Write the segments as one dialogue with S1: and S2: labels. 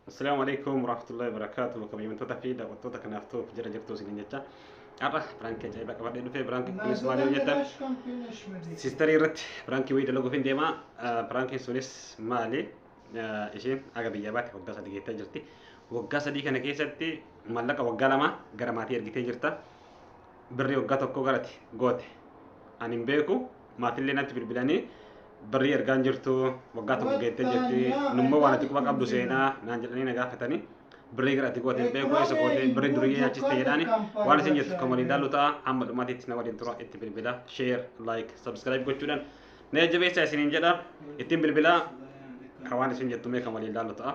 S1: Assalaamu alaikum warahmatullahi wabarakatuh. Bakka biyyoota fi daawwattoota kanaaf ta'uuf jira jirtu isin jecha. Har'a biraankii ajaa'ibaa qabadhee dhufee biraankii kunis maal yoo jettan siistarii irratti biraankii wayii dalaguuf hin deema. Biraankiin sunis maali? Isheen aga biyya baate waggaa sadii geettee jirti. Waggaa sadii kana keessatti maallaqa waggaa lama gara maatii ergitee jirta. birrii waggaa tokkoo garati goote ani hin beeku maatillee natti bilbilanii birrii ergaan jirtu waggaa tokko geettee jirti nummoo waan ati quba qabdu seenaa naan jedhanii na gaafatanii birrii gara ati goote hin beeku eessa goote birrii durii nyaachiste jedhaani waan isin jettu kan waliin daallu ta'a amma dhumaatiitti na waliin tura itti bilbila share like subscribe gochuudhaan na jajjabeessaa isiniin jedha ittiin bilbilaa kan waan isin jettu mee kan waliin daallu ta'a.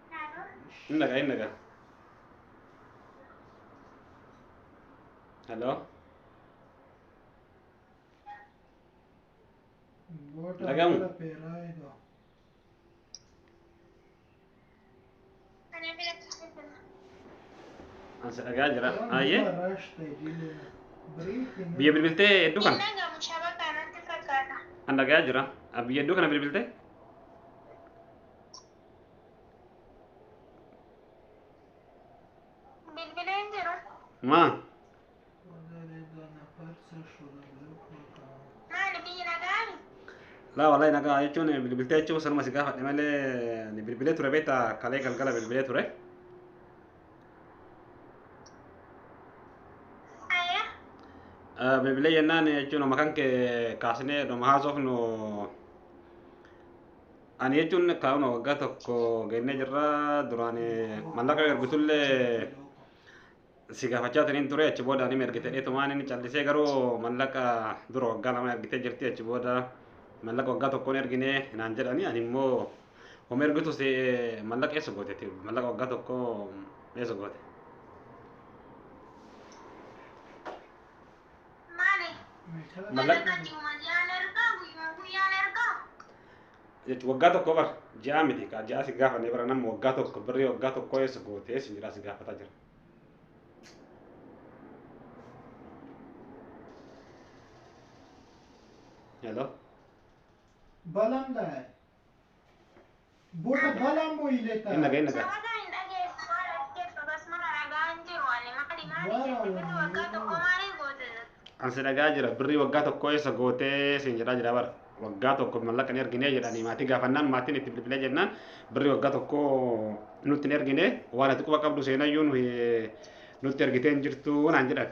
S1: Innaga innaga. Hello. Lagamu. Ansa dhagaa jira. Ayyee. Biyya bilbiltee hedduu kana.
S2: An dhagaa jira.
S1: Biyya hedduu kana bilbiltee.
S2: Bilbilee hin jiru. Maa?
S1: Maali
S2: biyyi nagaami? Laa wallahi
S1: nagaa jechuun bilbiltee jechuun sanuma si gaafadhe malee ni bilbilee ture beekta kalee galgala bilbilee ture.
S2: Ayya. Eh,
S1: Bilbilee jennaan jechuun amma kan kee kaasnee dhuma haasofnu Ani jechuun kaa'uma waggaa tokko gennee jirra duraan mallaqa ergitullee si gaafachaa taniin ture achi booda ani ergite dheetumaan inni callisee garuu mallaqa dura waggaa lama ergitee jirti achi booda mallaqa waggaa tokkoon ergine naan jedhani ani immoo homa ergitu si mallaqa eessa goote ati mallaqa waggaa tokko eessa goote.
S2: Maali? Mallaqa. Mallaqa
S1: ji'uma ji'aan
S2: ergaa guyyuma guyyaan ergaa.
S1: jechuun waggaa tokko bar ji'aa miti kaa ji'aa si gaafannee bara nama waggaa tokko birrii waggaa tokko eessa gootee si jedhaa si gaafataa jira. Hello?
S3: Balam daa'e. Bora balaan boyilee taa. Inna ga'e inna ga'e. Sabata hin
S1: dhageessu
S2: maal as jirtu akkasumana ragaa hin jiru ani maali maali Waaraa jette birri waaraa waggaa tokko waaraa. maali goote An si dhagaa jira
S1: birrii waggaa tokko eessa gootee siin jedhaa jira bara. Waggaa tokko mallaqa hin ergine jedhanii maatii gaafannaan maatiin itti bilbilee jennaan birrii waggaa tokko nutti hin ergine waan ati quba qabdu seenayyuu nuyi nutti ergitee hin jirtu naan jedhan.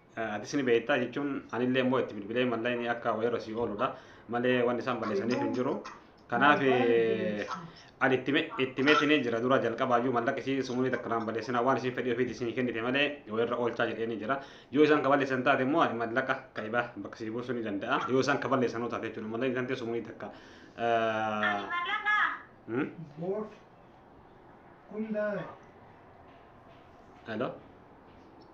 S1: Atis ni beektaa jechuun anillee immoo itti bilbilee mallayni akka wayirra sii ooludha malee wanni isaan balleessaniif hin jiru. Kanaaf ani itti meetiin jira dura jalqabaayyuu mallaqa isii sumurii takka naan balleessinaa waan isiin fedhii ofiitti isin kennite malee wayirra oolchaa jedheenii jira. Yoo isaan ka balleessan taate immoo ani mallaqa ka ibaa bakka sii buusuu ni danda'a. Yoo isaan ka balleessanuu taate jechuudha mallayni tantee sumurii takka. Hello.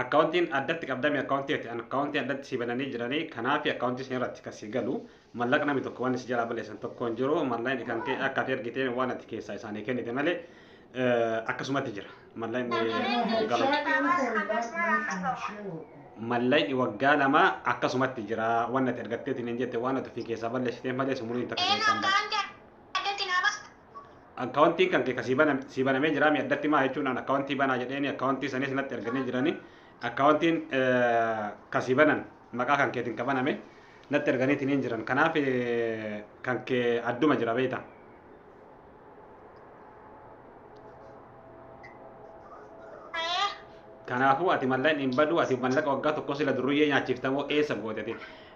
S1: Akkaawuntiin addatti qabdame akkaawuntii ati an akkaawuntii addatti si bananii jiranii kanaafi akkaawuntii san irratti ka si galu mallaq nami tokko wanni si jalaa balleessan tokko hin jiru mallaqni kan kee akka ati ergiteen waan ati keessaa isaanii kennite malee akkasumatti jira mallaqni waggaa mallaqni waggaa lama akkasumatti jira waan ati ergatteetiin hin jette waan ati ofii keessaa balleessiteen malee sumuliin takka keessaa hin baatu. addatti naa basta. Akkaawuntiin kan kee ka sii baname sii banamee jiraa mi addatti maa jechuun an akkaawuntii banaa jedheeni akkaawuntii sanis natti erganii jiranii akkaawuntiin ka sii banan maqaa kan keetiin ka baname natti erganiitiin hin jiran kanaaf kan kee adduma jira beekta. Ayee. Kanaafuu ati malleen hin baduu ati mallaqa waggaa tokko sila durriyyee nyaachiftamoo eessa goote ati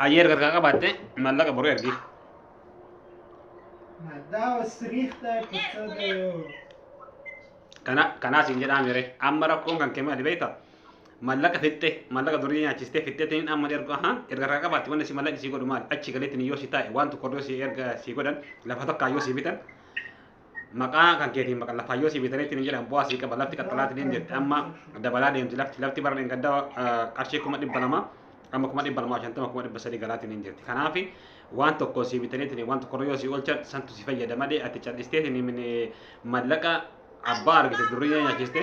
S1: hayyee erga harkaa qabaatte maallaqa boru ergi kana kanaas hin jedhaa mire amma rakkoon kan kee maali beekta maallaqa fixxe maallaqa durii nyaachiste fixxetiin amma erga aha erga harkaa qabaatte wanni si maallaqni si godhu maali achi galeetti yoo si taa'e waan tokko yoo si erga si godhan lafa tokko yoo si bitan maqaa kan keetiin baqa lafaayyoo sii bitanii ittiin hin jedhan bu'aa sii qaba lafti qaxxalaa ittiin jette amma dabalaa deemti lafti lafti bara dheengadda qarshii kuma dhibba lama amma kuma dhibba lamaa shantama kuma dhibba sadii galaatiin hin jirti kanaaf waan tokko sii bitanii ittiin waan tokko yoo sii oolchan santu si fayyada malee ati callistee ittiin mallaqa abbaa argite durii nyaachiste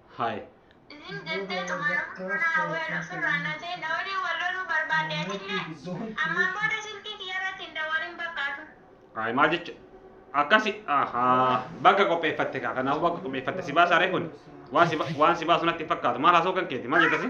S1: Hi. Isin jettee xumuruu kanaa weel ofirraa natee na waliin wal loluu barbaadde atillee? Ammaan booda silkii kiyyarratti hin dawwalin bakka atu. Hi maal jecha akkasi ahaa bakka qopheeffatte kaa kanaafuu bakka qopheeffatte si baasaa ree kun waan si ba- waan si baasu natti hin fakkaatu maal haasoo kan keeti maal jettasi?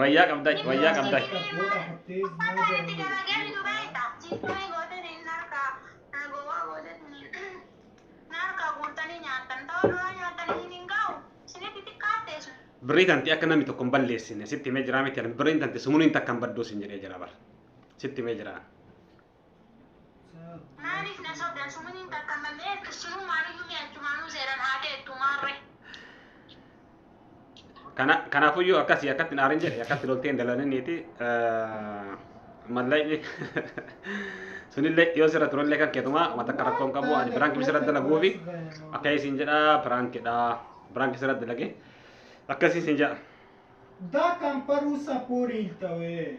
S1: Wayyaa qabda, wayyaa qabda. Birrii tanti akka namni tokko hin balleessine sitti himee jiraa miti birriin tanti sumuliin takka hin badduu sin jedhee jira bara sitti himee jiraa.
S2: Maaliif na sobdan suminiin takka mammee erkissinuu maaliyyuu mee achumaanuu seeran haa deettu maarre.
S1: Kana kanaafuyyuu akkasii akkatti naarin jedhe akkatti loltee hin dalaniniiti mallaqni sunillee yoo sirra turellee kan keetumaa waan takka rakkoo hin qabu ani biraanki sirra dalaguufi akka isin jedha biraankidha biraanki sirra dalage akkasii isin jedha. That can
S3: produce a poor health away.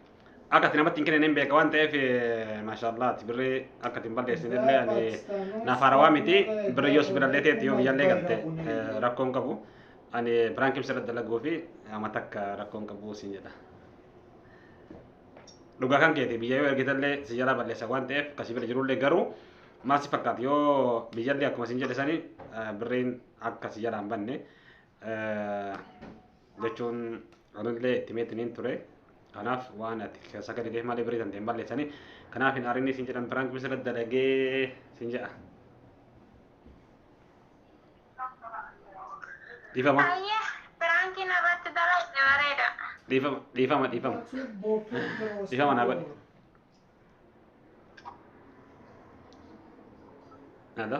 S1: Akka itti namatti hin kennine hin beeka waan ta'eef maashaallaati birrii akka itti hin balleessine illee ani naaf haarawaa miti birrii yoo sibirallee ta'etti yoo biyyallee galte rakkoo hin qabu. Ani biraankiin sirra dalaguu fi amma takka rakkoo hin qabu siin jedha. Dhugaa kan keeti biyya yoo ergitallee si jalaa balleessa waan ta'eef kasi bira jirullee garuu maal si fakkaata yoo biyyallee akkuma siin jedhe sanii birriin akka si jalaa hin banne jechuun Anillee itti meetiniin ture. Kanaaf waan ati keessa gadi deemaa malee birii dandeen balleessanii. Kanaaf hin aarinni siin jedhan piraank misira dalagee siin jedha. Dhiifama. Ayyee
S2: piraankiin irratti dalagde bareeda. Dhiifama.
S1: Dhiifama. Dhiifama. Dhiifama naa godhi. Nada.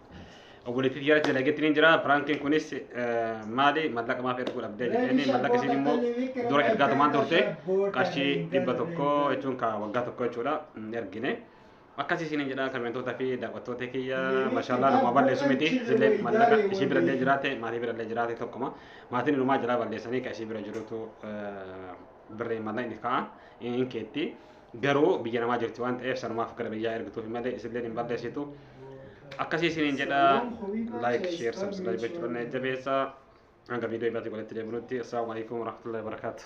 S1: obboleettii jara dalagetti ni jira piraankiin kunis maali mallaqa maaf erguu dhabdee jedhanii mallaqa isiin immoo dura ergaa tumaan turte qarshii dhibba tokko jechuun ka waggaa tokko jechuudha hin ergine akkasii isiin jedha kameentota fi daawwattoota kiyya mashallah nama balleessu miti isillee mallaqa isii birallee jiraate maatii birallee jiraate tokkuma maatiin inumaa jira balleessanii ka isii bira jirutu birree mallaqa inni ka'a hin keetti. garuu biyya namaa jirti waan ta'eef sanumaaf gara biyyaa ergituufi malee isilleen hin balleessitu akkasii isiniin jedha like share subscribe gochuudhaan na jajjabeessaa hanga viidiyoo biraatti walitti deebinutti assalaamu alaikum warahmatullahi wabarakaatuh